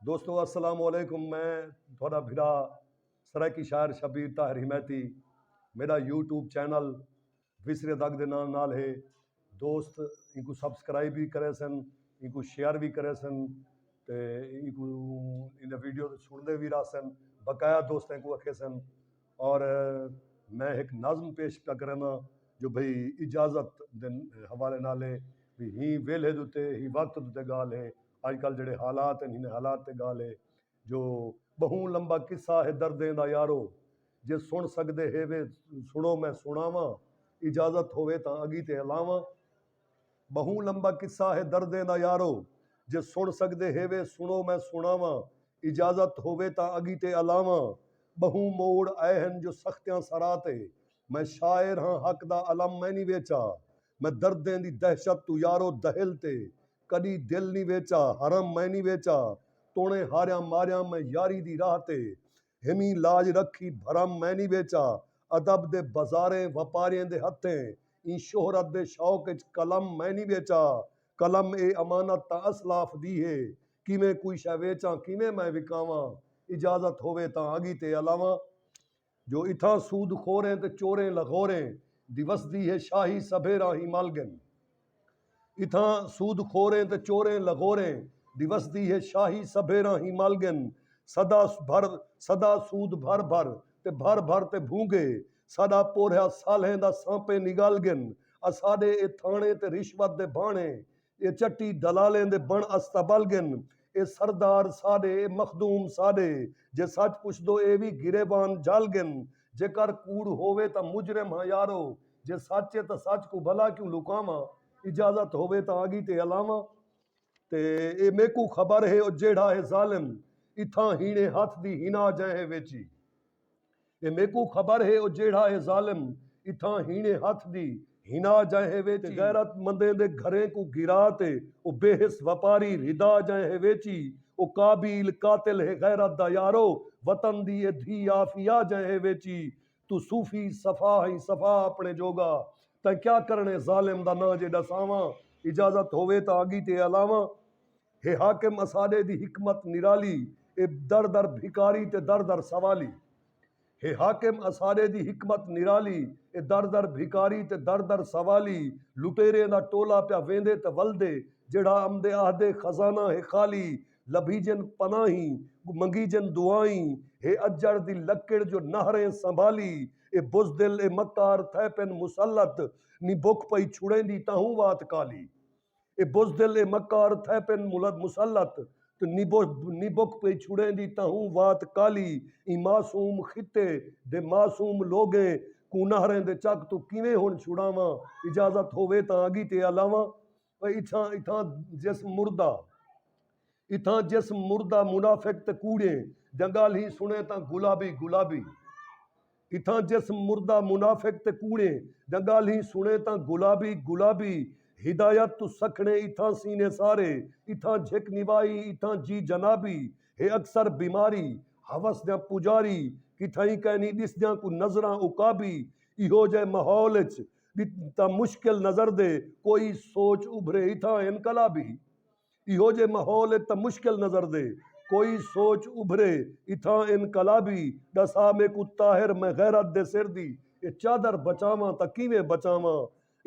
دوستو السلام علیکم میں تہاڈا بھرا سرائیکی شاعر شبیر طاہر حمایتی میڈا یوٹیوب چینل ویسرے دگ دے نام نال ہے دوست اینکو سبسکرائب وی کرے سن اینکو شیئر وی کرے سن تے اینکو ایندے ویڈیو تے سنڑدے وی راہ سن بقایا دوستیں کو اکھے سن اور میں ہک نظم پیش پیا کرے نا جو بھئی اجازت دے حوالے نال ہے بھی ہی ویلھے دوتے ہی وقت دوتے گال ہے اڄ کل جیڑھے حالات ہن انھیں حالات تے ڳالھ ہے جو ٻہوں لمبا قصہ ہے دردیں دا یارو جے سݨ سڳدے ہیوے سݨو میں سݨاواں اجازت ہووے تاں اڳیتے ہلاواں ٻہوں لمبا قصہ ہے دردیں دا یارو جے سݨ سڳدے ہیوے سݨو میں سݨاواں اجازت ہووے تاں اڳیتے ہلاواں ٻہوں موڑ اے ہن جو سختیاں سرا تے میں شاعر ہاں حق دا الم میں نی ویچا میں دردیں دی دہشت توں یارو دہل تے کݙی دل نی ویچا حرم میں نی ویچا توݨے ہاریاں ماریاں میں یاری دی راہ تے ہیویں لاج رکھی بھرم میں نی ویچا ادب دے بزاریں وپاریئں دے ہتھیں ایں شہرت دے شوق اچ قلم میں نی ویچا قلم اے امانت تاں اسلاف دی ہے کیویں کوئی شے ویچاں کیویں میں وکاواں اجازت ہووے تاں اڳی تے الاواں۔ جو اتھاں سود خوریں تے چوریں لغوریں دی وسدی ہے شاہی سبھے راہیں مل گن اتھاں سود خوریں تے چوریں لغوریں دی وسدی ہے شاہی سبھے راہیں مل گن سدا بھر سدا سود بھر بھر تے بھر بھر تے بھونگے ساڈا پورھیا سالھیں دا سانپے نگل گن اساڈے اے تھانڑے تے رشوت دے بھانڑے اے چٹی دلالیں دے بݨ استبل ڳن۔ اے سردار ساݙے اے مخدوم ساݙے۔ جے سچ پچھدو اے وی گریبان جھل ڳن۔ جیکر کوڑ ہووے تاں مجرم ہاں یارو۔ جے سچ اے تاں سچ کوں بھلا کیوں لکاواں۔ اجازت ہووے تاں آڳی تے الاواں۔ تے اے میکوں خبر ہے او جیڑھا ہے ظالم۔ اتھاں ہیݨے ہتھ دی ہنا جئیں ہے ویچی۔ تے میکوں خبر ہے او جیڑھا اے ظالم اتھاں ہیݨے ہتھ دی ہنا جائے ہے ویچی غیرت مندیں دے گھریں کوں گھرا تے او بے حس وپاری رھدا جائے ہے ویچی او قابیل قاتل ہے غیرت دا یارو وطن دی اے دھی آفیا جائے ہے ویچی توں صوفی صفا ہیں صفا اپݨے جوگا تیں کیا کرݨے ظالم دا ناں جے ݙساواں اجازت ہووے تاں اڳی تے الاواں۔ ہے حاکم اساݙے دی حکمت نرالی اے در در بھکاری تے در در سوالی ہے حاکم اساݙے دی حکمت نرالی اے در در بھکاری تے در در سوالی لٹیریں دا ٹولا پیا ویندے تے ولدے جیڑھا امدے آہدے خزانہ ہے خالی لبھیجن پناہیں منگیجن دعائیں ہے اجڑ دی لکڑ جو نہریں سنبھالی اے بزدل اے مکار تھئے پن مسلط نی بکھ پئی چھڑیندی تاہوں وات کالی اے بزدل اے مکار تھئے پن مسلط تے نبک پئی چھڑیں دی تہوں وات کالی ایں معصوم خطے دے معصوم لوگیں کوں نہریں دے چک توں کیویں ہن چھڑاواں اجازت ہووے تاں اگی تے الاواں اتھاں اتھاں جسم مردہ اتھاں جسم مردہ منافق تے کوڑیں دیاں گالھیں سنیں تاں گلابی گلابی اتھاں جس مردہ منافق تے کوڑیں دیاں ڳالھیں سݨیں تاں گلابی گلابی ہدایت توں سکھڑیں اتھاں سینے سارے اتھاں جھک نوائی اتھاں جی جنابی ہے اکثر بیماری ہوس دیاں پجاری کتھائیں کائنی ݙسدیاں کوں نظراں عقابی ایہو جئے ماحول اچ تاں مشکل نظر دے کوئی سوچ ابھرے اتھاں انقلابی ایہو جے ماحول اچ تاں مشکل نظر دے کوئی سوچ ابھرے اتھاں انقلابی ڈسا میکوں طاہر میں غیرت دے سر دی اے چادر بچاواں تاں کیویں بچاواں